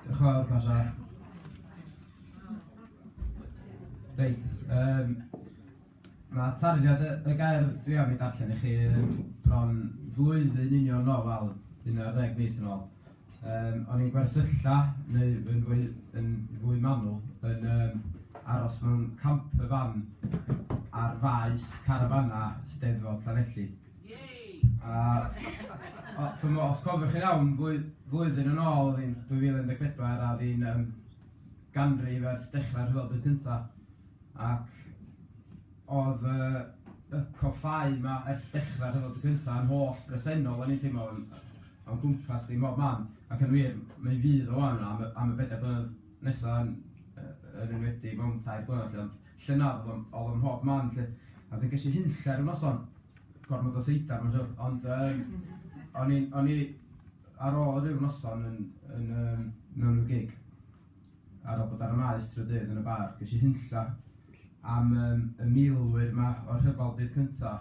Diolch yn fawr, Pasha. Reit, yym ma' tarddiad y y gerdd dwi am ei darllen i chi yy bron flwyddyn yn union yn ôl, wel, un ar ddeg mis yn ôl, yym o'n i'n gwersylla neu yn fwy yn fwy manwl yn yym aros mewn campervan ar faes carafana Steddfod Llanelli. A, o, dyma, os cofiwch chi'n iawn, flwy- flwyddyn yn ôl, oedd hi'n 2014, a oedd hi'n um, ganrif ers dechrau'r rhyfel byd cyntaf. Ac oedd uh, y coffau yma ers dechrau'r rhyfel byd cyntaf yn holl bresennol, o'n i'n teimlo, o'n gwmpas di mob man. Ac yn wir, mae'n fydd o wan am, am y bedair blynedd nesaf yn, yn enwedig mewn tair blynedd. llynedd oedd o'n oedd o'n mhob man 'lly a wedyn ges i hunllef y noson, gormod o seidar mae'n siŵr, ond yym o'n i o'n i ar ôl ryw noson yn yn yym mewn ryw gig ar ôl bod ar y Maes trydydd dydd yn y bar, ges i hunlla am yym y milwyr 'ma o'r Rhyfel Byd Cynta'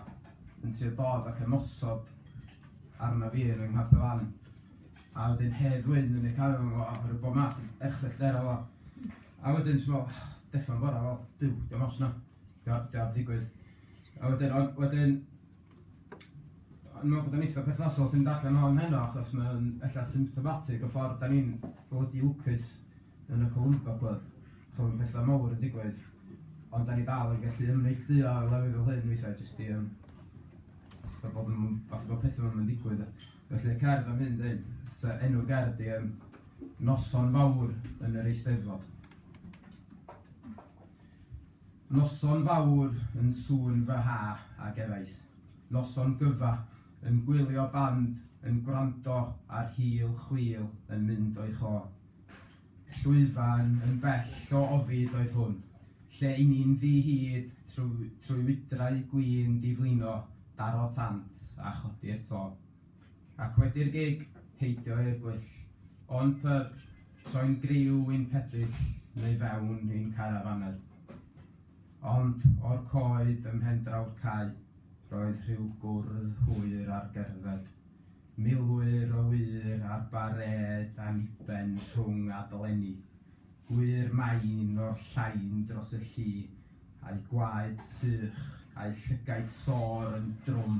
yn trio dod ac ymosod arna fi yn 'y nghapel lan a wedyn Hedd Wyn yn eu cael efo fo a ryw bob math o erchylltera fel 'a. A wedyn jyst fel, dechrau o'r gorau, fel, Duw, dio'm ots na, tibod, dwi am ddigwydd. A wedyn, ond wedyn, o'n i'n meddwl bod o'n eitha perthnasol os ti'n mynd allan o'n heno, achos mae'n ella symptomatic o ffordd da ni'n blydi lwcus yn y Columba Club. Chos mae'n pethau mawr yn digwydd, ond da ni dal yn gallu ymneilltuo lefydd fel hyn weithiau, jyst i, um, bod, bod pethau fel hyn yn digwydd. Felly y cerdd am hyn dweud, so enw'r gerdd di um, Noson Fawr yn yr Eisteddfod. Noson fawr yn sŵn fy ha ac eraill. Noson gyfa yn gwylio band yn gwrando ar hil chwil yn mynd o'i cho. Llwyfan yn bell o ofid oedd hwn, lle i ni'n ddi-hid trwy trwy wydrau gwin di-flino, daro tant, a chodi'r to. Ac wedi'r gig, heidio i'r gwyll. O'n pyb, troi'n griw i'n pebyll, neu fewn i'n carafanau. Ond, o'r coed ym mhen-draw'r cae, roedd rhyw gwrdd hwyr ar gerdded. Milwyr o wŷr ar barêd anniben rhwng a dolenni, gwŷr main o'r llain dros y lli, a'u gwaed sych, a'u llygaid sôr yn drwm,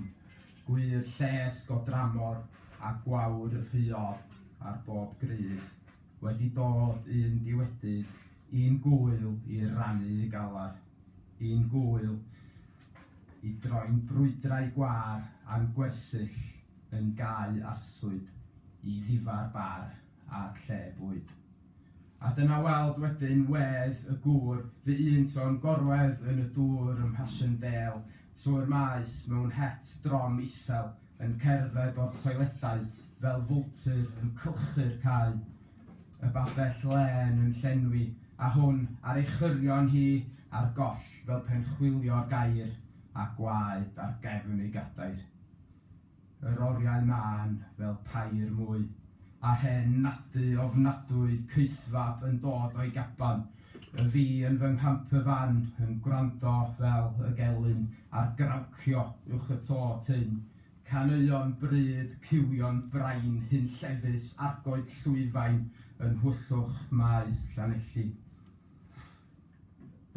gwŷr lles go dramor a gwawr rhuog ar bob grydd, wedi dod un diewedydd, un gŵyl i rannu galar, un gŵyl, i droi'n brwydrau gwâr a'n gwersyll yn gaeau arswyd i ddifâr bar a lle bwyd. A dyna weld wedyn wedd y gŵr fy un to'n gorwedd yn y dŵr ym Mhashendale trwy'r maes mewn het drom isel yn cerdded o'r toiledau fel fwltur yn cylchu'r cae. y babell lên yn llenwi, a hwn ar ei chyrion hi ar goll fel pen chwilio'r gair, a gwaed ar gefn ei gadair. Yr oriau mân fel pair mwy, a hen nadu ofnadwy caethfab yn dod o'i gaban, y fi yn fy nghamper van yn gwrando fel y gelyn ar grawcio uwch y to tynn, Caneuon bryd, cywion brain hunllefus, argoed llwyfaen yn nhwyllwch maes Llanelli.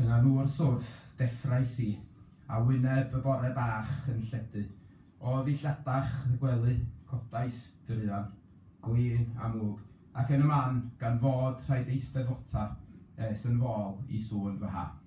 Yna nhw o'r swrff, deffrais i, a wyneb y bore bach yn lledu. O ddillladach y gwely, codais druan, glin a mwg, ac yn y man, gan fod rhaid eisteddfota es yn fol i sŵn fy ha.